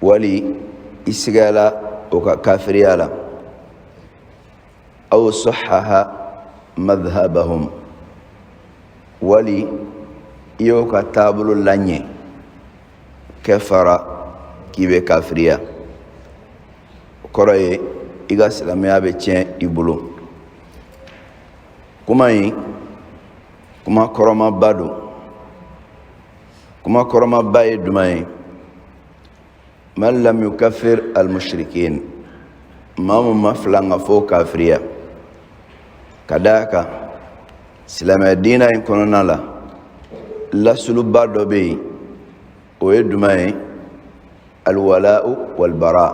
wali i sigayala o ka kafiriya la aw sahaha madhabahum wali i y'o ka taabolo laɲɛ kafara k'i bɛ kafiriya o kɔrɔ ye i ka silamɛya bɛ tiɲɛ i bolo kuma in kuma kɔrɔmaba don kuma kɔrɔmaba ye duma ye man lam yukaffir almushrikin maa mun ma filankafo kafiriya ka d'a kan silamɛya diina in kɔnɔna la lasuluba dɔ bɛ yen o ye duma ye alwala'u walbara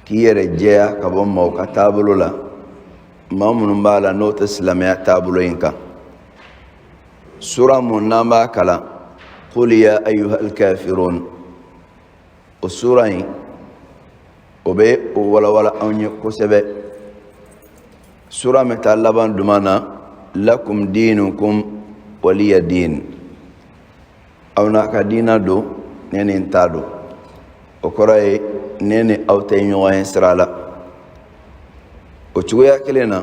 k'i yɛrɛ jɛya ka bɔ maaw ka taabolo la maa minnu b'a la n'o tɛ silamɛya taabolo in kan sura mun n'an b'a kalan qul ya ayyuhal kafirun o sura in o bɛ o walawala anw ye kosɛbɛ sura min ta laban duma na lakum diinukum waliya diin aw n'a ka diina don ne ni n ta don o kɔrɔ ye ne ni aw tɛ ɲɔgɔn ye sira la o cogoya kelen na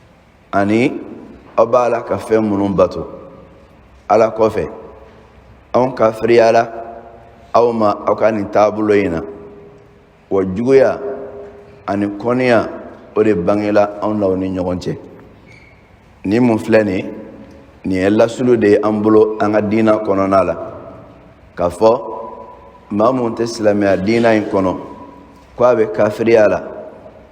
ani aw b'a la ka fɛn minnu bato ala kɔfɛ anw kafiriyala aw ma aw ka nin taabolo in na wa juguya ani kɔnniya o de bangela anw n'aw ni ɲɔgɔn cɛ nin mun filɛ nin nin ye lasulu de ye an bolo an ka diina kɔnɔna la k'a fɔ maa mun tɛ silamɛya diina in kɔnɔ ko a bɛ kafiriya la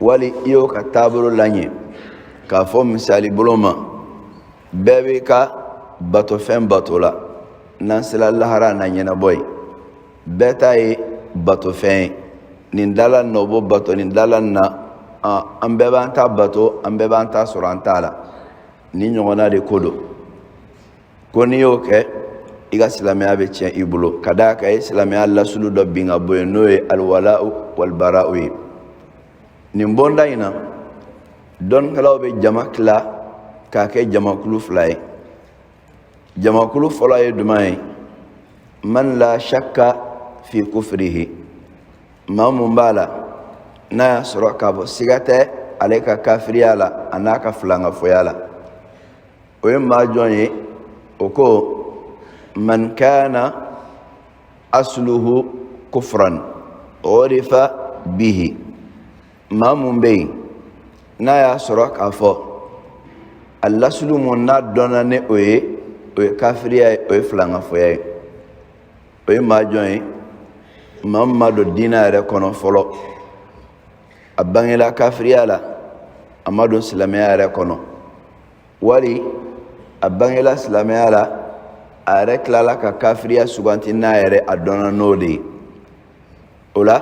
wali i y'o ka taabolo laɲɛ k'a fɔ misali bolo ma bɛɛ b'i ka batofɛn bato la n'an sera lahara n'a ɲɛnabɔ yen bɛɛ ta ye batofɛn ye nin dala nin na o b'o bato nin dala nin na an bɛɛ b'an ta bato an bɛɛ b'an ta sɔrɔ an t'a la ni ɲɔgɔnna de ko don ko n'i y'o kɛ i ka silamɛya bɛ tiɲɛ i bolo ka d'a kan i ye silamɛya lasulu dɔ bin ka bɔ yen n'o ye alwala'u walbara'u ye nin bɔnda in na dɔnnikɛlaw bɛ jama tila k'a kɛ jamakulu fila ye jamakulu fɔlɔ ye duma ye man la shakka fi kufirihi maa mun b'a la n'a y'a sɔrɔ k'a fɔ siga tɛ ale ka kafiriya la a n'a ka filankafoya la o ye maa jɔn ye o ko man kana asluhu kufran urifa bihi maa mun bɛ yen n'a y'a sɔrɔ k'a fɔ a lasulu mun n'a dɔnna ni o ye o ye kafiriya ye o ye filankafoya ye o ye maa jɔn ye maa mun ma don diina yɛrɛ kɔnɔ fɔlɔ a bangela kafiriya la a ma don silamɛya yɛrɛ kɔnɔ wali a bangela silamɛya la a yɛrɛ tilala ka kafiriya suganti n'a yɛrɛ a dɔnna n'o de ye o la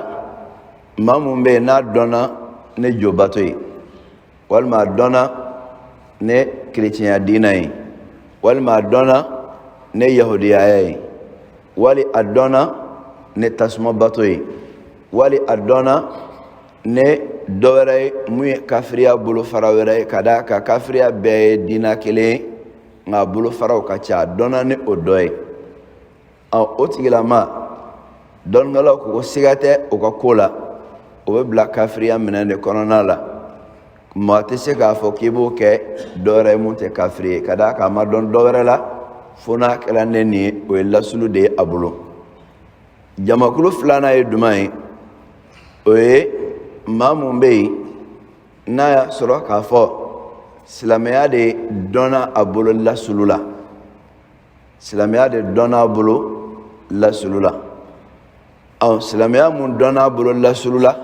maa mun bɛ yen n'a dɔnna ni jobato ye walima a dɔnna ni kerecɛnya diina ye walima a dɔnna ni yahudiyaya ye wali a dɔnna ni tasumabato ye wali a dɔnna ni dɔ wɛrɛ ye mun ye kafiriya bolofara wɛrɛ ye ka d'a kan kafiriya bɛɛ ye diina kelen ye nka a bolofaraw ka ca a dɔnna ni o dɔ ye o tigilamaa dɔnnikɛlaw ko ko siga tɛ o ka ko la o bɛ bila kafiriya minɛn de kɔnɔna la maa tɛ se k'a fɔ k'i b'o kɛ dɔ wɛrɛ ye mun tɛ kafiri ye ka d'a kan a ma dɔn dɔ wɛrɛ la fo n'a kɛra ni nin ye o ye lasulu de ye a bolo jamakulu filanan ye duman ye o ye maa mun bɛ yen n'a y'a sɔrɔ k'a fɔ silamɛya de dɔnna a bolo lasulu la silamɛya de dɔnna a bolo lasulu la ɔ silamɛya mun dɔnna a bolo lasulu la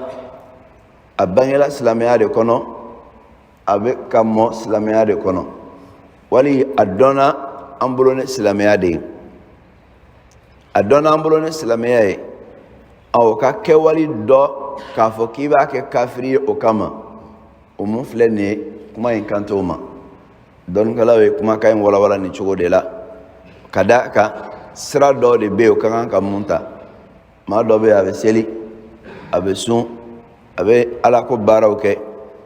a bangela silamɛya de kɔnɔ a bɛ ka mɔ silamɛya de kɔnɔ wali a dɔnna an bolo ni silamɛya de ye a dɔnna an bolo ni silamɛya ye o ka kɛwale dɔ k'a fɔ k'i b'a kɛ kafiri ye o kama o mun filɛ nin ye kuma in kan t'o ma dɔnnikɛlaw ye kumakan in walawala nin cogo de la ka d'a kan sira dɔ de bɛ yen o ka kan ka mun ta maa dɔ bɛ yen a bɛ seli a bɛ sun a bɛ alako baaraw kɛ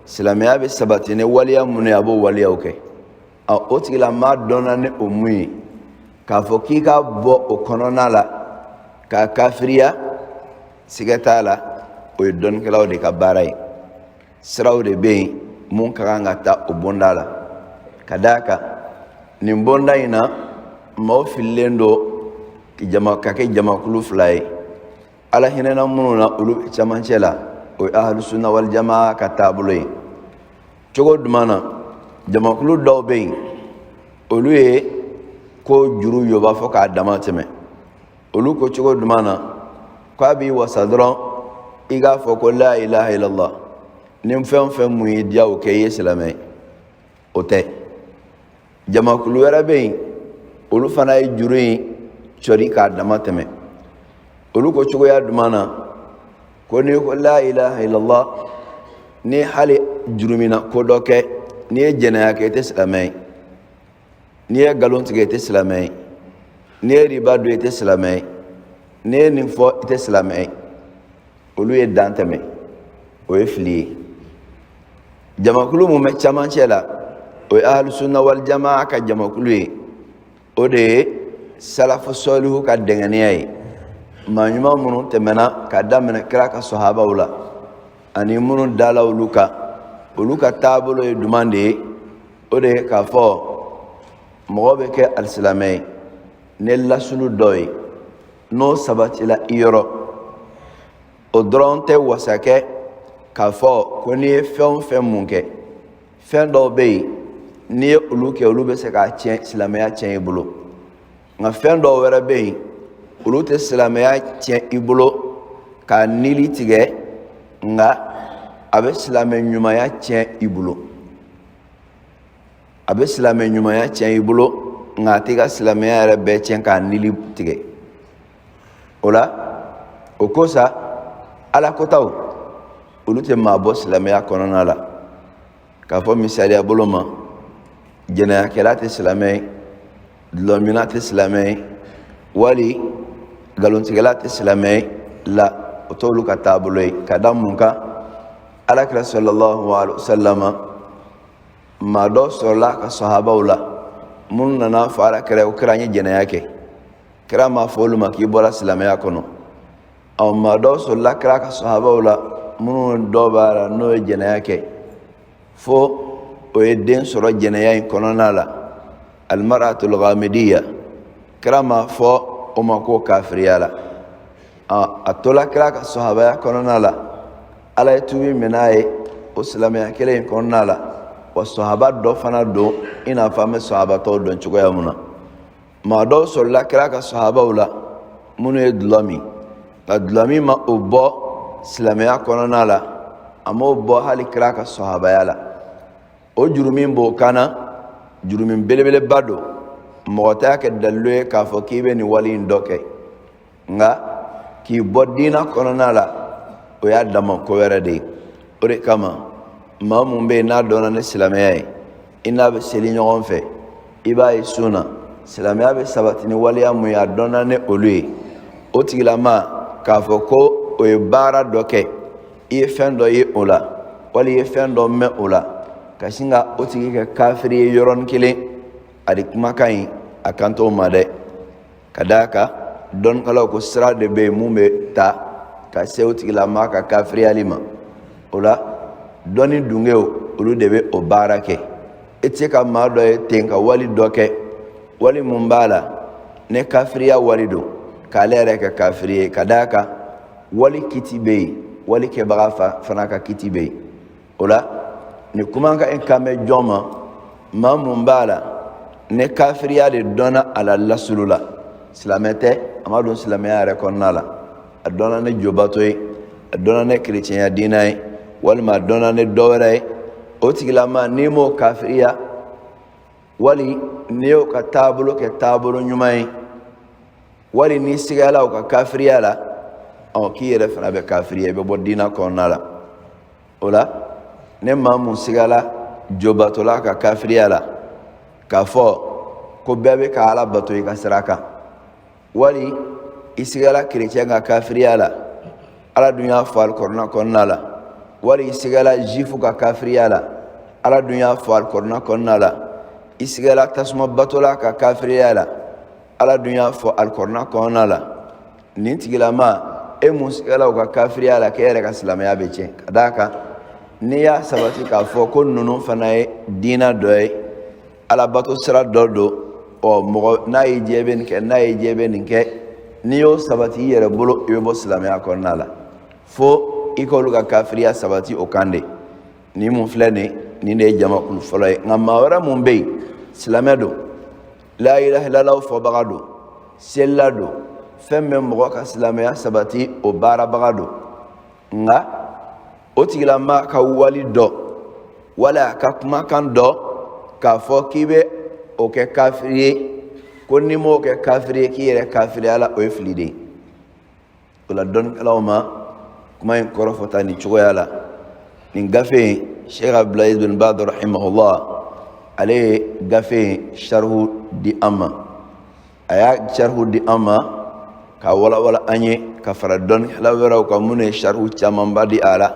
silamɛya bɛ sabati ni waleya minnu ye a b'o waleyaw kɛ ɔ o tigilamaa dɔnna ni o mun ye k'a fɔ k'i k'a bɔ o kɔnɔna la k'a kafiriya sigɛ t'a la o ye dɔnnikɛlaw de ka baara ye siraw de bɛ yen mun ka kan ka ta o bonda la ka d'a kan nin bonda in na maaw fililen don jama ka kɛ jamakulu fila ye ala hinɛna minnu na olu bɛ camancɛ la o ye ahalusuna walijama ka taabolo ye cogo duman na jamakulu dɔw bɛ yen olu ye ko juru yoba fo k'a dama tɛmɛ olu ko cogo duman na k'a b'i wasa dɔrɔn i k'a fɔ ko la ilaha illallah ni fɛn o fɛn mun y'i diya o kɛ i ye silamɛ ye o tɛ jamakulu wɛrɛ bɛ yen olu fana ye juru in cɔri k'a dama tɛmɛ olu ko cogoya jumɛn na ko n'i ko la ilaha illallah ni hali jurumunna ko dɔ kɛ n'i ye jɛnɛya kɛ i tɛ silamɛ ye n'i ye nkalon tigɛ i tɛ silamɛ ye n'i ye riba dun i tɛ silamɛ ye n'i ye nin fɔ i tɛ silamɛ ye olu ye dan tɛmɛ o ye fili ye jamakulu mun bɛ camancɛ la o ye ahlusunna waljama'a ka jamakulu ye o de ye salafu sɔlihu ka dɛngɛniya ye maa ɲuman minnu tɛmɛna ka daminɛ kira ka sɔhabaw la ani minnu dala olu kan olu ka taabolo ye jumɛn de ye o de ye k'a fɔ mɔgɔ bɛ kɛ alisilamɛ ye ni lasulu dɔ ye n'o sabatila i yɔrɔ o dɔrɔn tɛ wasa kɛ k'a fɔ ko n'i ye fɛn o fɛn mun kɛ fɛn dɔw bɛ yen n'i ye olu kɛ olu bɛ se k'a tiɲɛ silamɛya tiɲɛ i bolo nka fɛn dɔw wɛrɛ bɛ yen olu tɛ silamɛya tiɲɛ i bolo k'a nili tigɛ nka a bɛ silamɛ ɲumanya tiɲɛ i bolo a bɛ silamɛ ɲumanya tiɲɛ i bolo nka a tɛ i ka silamɛya yɛrɛ bɛɛ tiɲɛ k'a nili tigɛ o la o ko sa alakotaw olu tɛ maa bɔ silamɛya kɔnɔna la k'a fɔ misaliya bolo ma jɛnɛyakɛla tɛ silamɛ ye dulɔminna tɛ silamɛ ye wali nkalontigɛla tɛ silamɛ ye la o t'olu ka taabolo ye ka da mun kan ala kira sɔlɔlɔhu alayhi wa salama maa dɔw sɔrɔla a ka sahabaw la minnu nana fɔ ala kira ko kira n ye jɛnɛya kɛ kira m'a fɔ olu ma k'i bɔra silamɛya kɔnɔ ɔ maa dɔw sɔrɔla kira ka sahabaw la minnu dɔ b'a la n'o ye jɛnɛya kɛ fo o ye den sɔrɔ jɛnɛya in kɔnɔna la almaratu alghamidiya kira m'a fɔ o ma k'o kafiriyala a tola kira ka sahabaya kɔnɔna la ala ye tubi min'a ye o silamɛya kelen in kɔnɔna la wa sahaba dɔ fana don i n'a fɔ an bɛ sahaba tɔw dɔn cogoya min na maa dɔw sɔrɔla kira ka sahabaw la minnu ye dulɔ min nka dulɔmin ma o bɔ silamɛya kɔnɔna la a m'o bɔ hali kira ka sahabaya la o jurumun b'o kanna jurumun belebeleba don mɔgɔ t'a kɛ dalilu ye k'a fɔ k'i bɛ nin wale in dɔ kɛ nka k'i bɔ diina kɔnɔna la o y'a dama ko wɛrɛ de ye o de kama maa mun bɛ yen n'a dɔnna ni silamɛya ye i n'a bɛ seli ɲɔgɔn fɛ i b'a ye sun na silamɛya bɛ sabati ni waleya mun ye a dɔnna ni olu ye o tigilamaa k'a fɔ ko o ye baara dɔ kɛ i ye fɛn dɔ ye o la wali i ye fɛn dɔ mɛn o la ka sin ka o tigi kɛ kafiri ye yɔrɔnin kelen a de kumakan in a kan t'o ma dɛ ka d'a kan dɔnnikɛlaw ko sira de bɛ yen mun bɛ ta ka se o tigilamaa ka kafiriyali ma o la dɔnni dungew olu de bɛ o baara kɛ i tɛ se ka maa dɔ ye ten ka wali dɔ kɛ wali mun b'a la ni kafiriya wali don k'ale yɛrɛ kɛ kafiri ye ka d'a kan wali kiti bɛ yen wali kɛbaga fa fana ka kiti bɛ yen o la nin kumakan in kan bɛ jɔn ma maa mun b'a la ni kafiriya de dɔnna a la lasulu la silamɛ tɛ a ma don silamɛya yɛrɛ kɔnɔna la a dɔnna ni jobato ye a dɔnna ni kerecɛnya diina ye walima a dɔnna ni dɔ wɛrɛ ye o tigilamaa n'i m'o kafiriya wali n'i y'o ka taabolo kɛ taabolo ɲuman ye wali n'i sigala u ka kafiriya la ɔ k'i yɛrɛ fana bɛ kafiriya i bɛ bɔ diina kɔnɔna la o la ni maa mun sigala jobatola ka kafiriya la k'a fɔ ko bɛɛ bɛ ka ala bato i ka sira kan wali i sigala kerecɛn ka kafiriya la ala dun y'a fɔ alikɔrɔna kɔnɔna la wali i sigala zuwifu ka kafiriya la ala dun y'a fɔ alikɔrɔna kɔnɔna la i sigala tasuma batola ka kafiriya la ala dun y'a fɔ alikɔrɔna kɔnɔna la nin tigilamaa e mun sigala u ka kafiriya la k'e yɛrɛ ka silamɛya bɛ tiɲɛ ka d'a kan n'i y'a sabati k'a fɔ ko ninnu fana ye diina dɔ ye alabato sira dɔ don ɔ mɔgɔ n'a y'i diya i bɛ nin kɛ n'a y'i diya i bɛ nin kɛ n'i y'o sabati i yɛrɛ bolo i bɛ bɔ silamɛya kɔnɔna la fo i k'olu ka kafiriya sabati o kan de ni mun filɛ nin nin de ye jamakulu fɔlɔ ye nka maa wɛrɛ mun bɛ yen silamɛ don la ilaha illallah fɔbaga don selila don fɛn bɛ mɔgɔ ka silamɛya sabati o baarabaga don nka o tigilamaa ka wali dɔ wal'a ka kumakan dɔ k'a fɔ k'i bɛ o kɛ kafiri ye ko n'i m'o kɛ kafiri ye k'i yɛrɛ kafiriyala o ye fili de ye o la dɔnnikɛlaw ma kuma in kɔrɔ fɔ tan nin cogoya la nin gafe in sheikh abdulaziz bin baz rahimahullah ale ye gafe in sarihu di an ma a y'a sarihu di an ma k'a walawala an ye ka fara dɔnnikɛla wɛrɛw kan minnu ye sarihu camanba di a la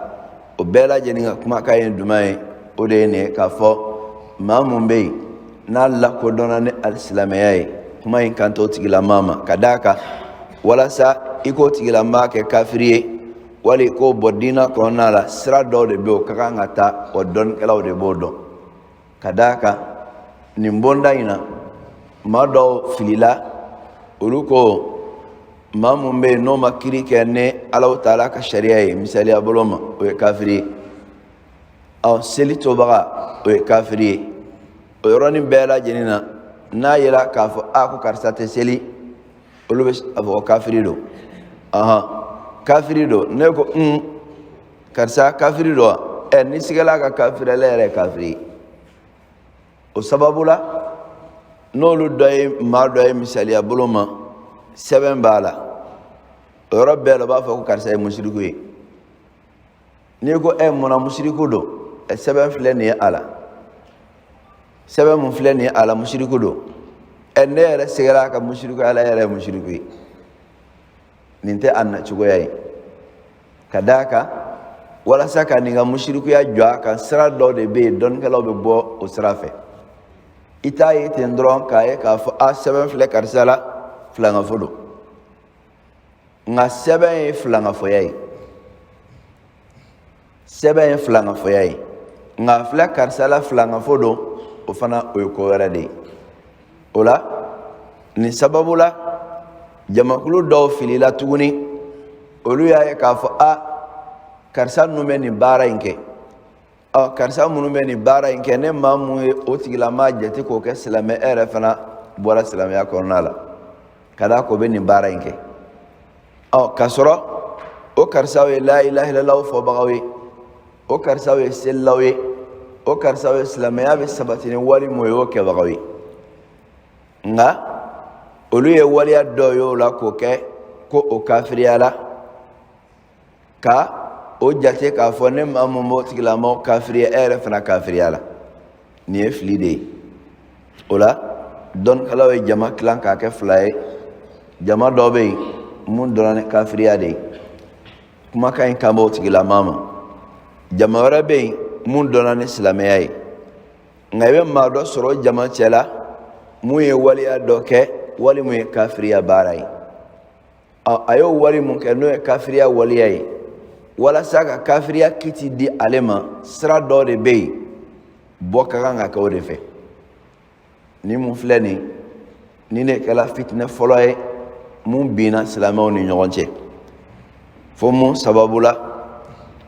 o bɛɛ lajɛlen ka kumakan ye jumɛn ye o de ye nin ye k'a fɔ maa mun bɛ yen n'a lakodɔnna ni alisilamɛya ye kuma in kan t'o tigilamaa ma ka d'a kan walasa i k'o tigilamaa kɛ kafiri ye wali k'o bɔ diinɛ kɔnɔna la sira dɔw de bɛ yen o ka kan ka ta o dɔnnikɛlaw de b'o dɔn ka d'a kan nin bonda in na maa dɔw filila olu ko maa mun bɛ yen n'o ma kiri kɛ ni alahu taala ka sariya ye misaliya bolo ma o ye kafiri ye ɔ seli tobaga o ye kafiri ye o yɔrɔnin bɛɛ lajɛlen na n'a yera k'a fɔ a ko karisa tɛ seli olu bɛ a fɔ ko kafiri don ɔhɔn kafiri don ne ko un karisa kafiri don ɛ ne sigala ka kafiri ale yɛrɛ kafiri o sababu la n'olu dɔ ye maa dɔ ye misaliya bolo ma sɛbɛn b'a la o yɔrɔ bɛɛ la u b'a fɔ ko karisa ye musiriku ye n'i ko ɛ munna musiriku don ɛ sɛbɛn filɛ nin ye a la sɛbɛn mun filɛ nin ye a la musiriku don ɛ ne yɛrɛ sigala ka musiriku ale yɛrɛ ye musiriku ye nin tɛ a nacogoya ye ka d'a kan walasa ka nin ka musirikuya jɔ a kan sira dɔ de bɛ yen dɔnnikɛlaw bɛ bɔ o sira fɛ i t'a ye ten dɔrɔn k'a ye k'a fɔ a sɛbɛn filɛ karisa la filangafo don nka sɛbɛn ye filangafoya ye sɛbɛn ye filangafoya ye nka filɛ karisa la filangafo don o fana o ye ko wɛrɛ de ye o la nin sababu la jamakulu dɔw filila tuguni olu y'a ye k'a fɔ a karisa ninnu bɛ nin baara in kɛ ɔ karisa minnu bɛ nin baara in kɛ ni maa mun ye o tigilamaa jate k'o kɛ silamɛ e yɛrɛ fana bɔra silamɛya kɔnɔna la ka d'a k'o bɛ nin baara in kɛ ɔ k'a sɔrɔ o karisaw ye la ilaha illallah fɔbagaw ye o karisaw ye selilaw ye o karisaw ye silamɛya bɛ sabati ni wali mun ye o kɛbagaw ye nka olu ye waleya dɔ ye o la k'o kɛ ko o kafiriyala ka o jate k'a fɔ ni maa mun m'o tigilamaa kafiriya e yɛrɛ fana kafiriyala nin ye fili de ye o la dɔnnikɛlaw ye jama tilan k'a kɛ fila ye jama dɔw bɛ yen mun dɔnna ni kafiriya de ye kumakan in kan b'o tigilamaa ma jama wɛrɛ bɛ yen mun dɔnna ni silamɛya ye nka i bɛ maa dɔ sɔrɔ jama cɛla mun ye waleya dɔ kɛ wali mun ye kafiriya baara ye a y'o wali mun kɛ n'o ye kafiriya waleya ye walasa ka kafiriya kiti di ale ma sira dɔ de bɛ yen bɔ ka kan ka kɛ o de fɛ nin mun filɛ nin nin de kɛra fitinɛ fɔlɔ ye mun binna silamɛw ni ɲɔgɔn cɛ fo mun sababu la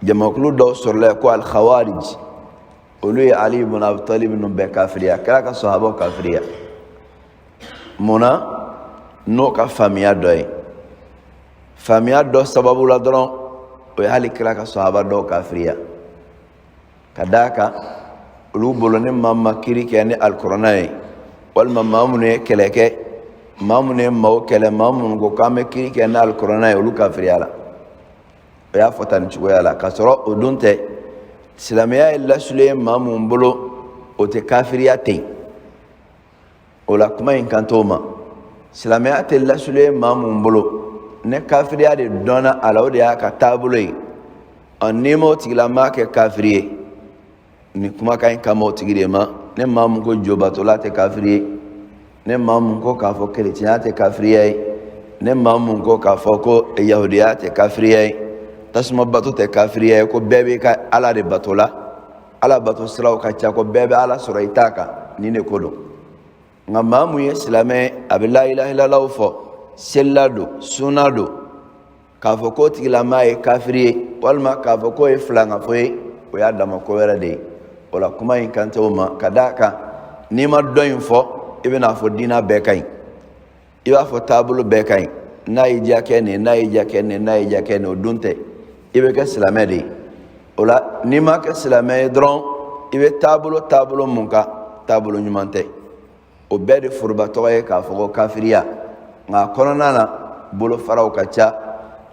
jamakulu dɔw sɔrɔla yen ko alkhawarij olu ye ali ibn abi talib ninnu bɛɛ kafiriya kira ka sahabaw kafiriya mun na n'o ka faamuya dɔ ye faamuya dɔ sababu la dɔrɔn o ye hali kira ka sahaba dɔw kafiriya ka d'a kan olu bolo ni maa ma kiri kɛ ni alikuranɛ ye walima maa minnu ye kɛlɛ kɛ maa minnu ye maaw kɛlɛ maa minnu ko k'an bɛ kiri kɛ ni alikuranɛ ye olu kafiriyala o y'a fɔ tan nin cogoya la k'a sɔrɔ o dun tɛ silamɛya ye lasulu ye maa mun bolo o tɛ kafiriya ten o la kuma in kan t'o ma silamɛya tɛ lasulu ye maa mun bolo ni kafiriya de dɔnna a la o de y'a ka taabolo ye ɔ n'i m'o tigilamaa kɛ kafiri ye nin kumakan in kan b'o tigi de ma ni maa mun ko jobatola tɛ kafiri ye ni maa mun ko k'a fɔ kerecɛnya tɛ kafiriya ye ni maa mun ko k'a fɔ ko yahudiya tɛ kafiriya ye tasuma bato tɛ kafiriya ye ko bɛɛ b'i ka ala de bato la ala bato siraw ka ca ko bɛɛ bɛ ala sɔrɔ i ta kan nin de ko don nka maa mun ye silamɛ ye a bɛ la ilaha illallah fɔ selila don sunna don k'a fɔ k'o tigilamaa ye kafiri ye walima k'a fɔ k'o ye filangafo ye o y'a dama ko wɛrɛ de ye o la kuma in kan tɛ o ma ka d'a kan n'i ma dɔ in fɔ i bɛn'a fɔ diinɛ bɛɛ ka ɲi i b'a fɔ taabolo bɛɛ ka ɲi n'a y'i diya kɛ nin n'a y'i diya kɛ nin n'a y'i diya kɛ nin o dun tɛ i bɛ kɛ silamɛ de ye o la n'i ma kɛ silamɛ ye dɔrɔn i bɛ taabolo taabolo mun kan taabolo ɲuman tɛ o bɛɛ de foroba tɔgɔ ye k'a fɔ ko kafiriya nka a kɔnɔna na bolofaraw ka ca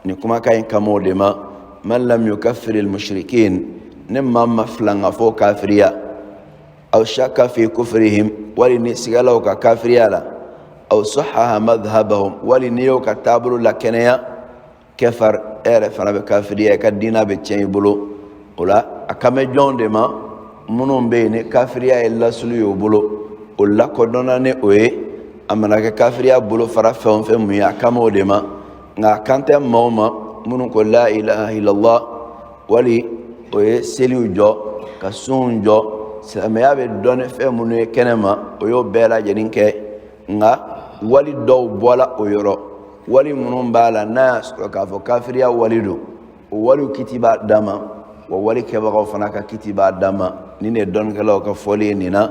nin kumakan in kan b'o de ma man lam yukafiril mushrikin ni maa ma filangafow kafiriya aw shaka fi kufrihim wali n'i sigala u ka kafiriya la aw sahaha madhhabahum wali n'i y'o ka taabolo lakɛnɛya kafar e yɛrɛ fana bɛ kafiriya i ka diina bɛ tiɲɛ i bolo o la a kan bɛ jɔnw de ma minnu bɛ yen ni kafiriya ye lasulu y'o bolo o lakodɔnna ni o ye a mana kɛ kafiriya bolofara fɛn o fɛn mun ye a kan b'o de ma nka a kan tɛ maaw ma minnu ko la ilaha illallah wali o ye seliw jɔ ka sunw jɔ silamɛya bɛ dɔn ni fɛn minnu ye kɛnɛ ma o y'o bɛɛ lajɛlen kɛ nka wali dɔw bɔla o yɔrɔ wali minnu b'a la n'a y'a sɔrɔ k'a fɔ kafiriya wali don o waliw kiti b'a dama wa walikɛbagaw fana ka kiti b'a dama nin de dɔnnikɛlaw ka fɔli ye nin na